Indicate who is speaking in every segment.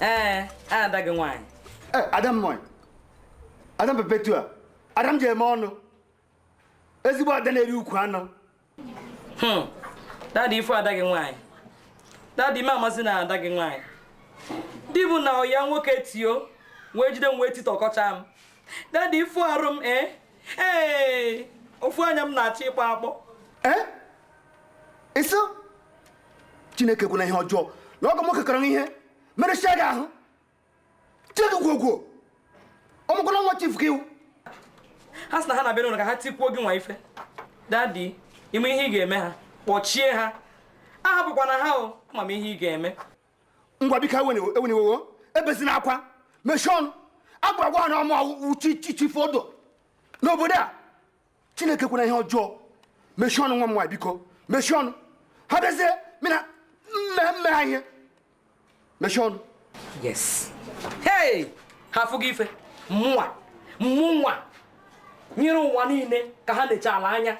Speaker 1: ee ada gị nwaanyị Eh, ada m
Speaker 2: nwaanyị ada m perpetua ada m ji eme ọnụ ezigbo ada na-eri ukwu anụ Hmm.
Speaker 1: dadi ị fụ ada gị nwaanyị dadi ị ma ama sị na ada gị nwaanyị di bụ na ọyị ya nwoke tio wee jide m wee titọkọcha m dadi ị fụ arụ m ee ee ofu anya m na-achọ ịkpọ akpọ ee
Speaker 2: ịsụ chineke ekwena ihe ọjọọ na ọgọ nwoke kọrọ ihe merụsịa gị ahụ tie gị gwogwo ọmụkwala nwa chief gị iwu
Speaker 1: ha sị na ha na-abịa n'ụlọ ka ha tikwuo gịnwa ife dadi ị ma ihe ị ga-eme ha kpọchie ha ahapụkwana ha o ama m ihe ị ga-eme
Speaker 2: ngwa biko ewena iwe o ebezina akwa mechie ọnụ a ga-agwa ha na ọ mụ wụ chi chief udo n'obodo a chineke ekwena ihe ọjọọ mechie ọnụ nwa m nwaanyị biko mechie ọnụ ha bịazie mina mme mme ha ihe mechie ọnụ yes
Speaker 1: hey ha afụgo ife mụnwa mụnwa nyere ụwa niile ka ha nechaala anya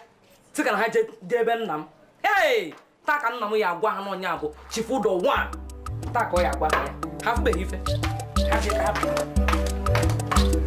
Speaker 1: sị ka na ha jee ebe nna m hey taa ka nna m ya agwa ha na ọ nya bụ chief udo one taa ka ọ ya agwa ha ya ha afụbeghị ife ha jee ka ha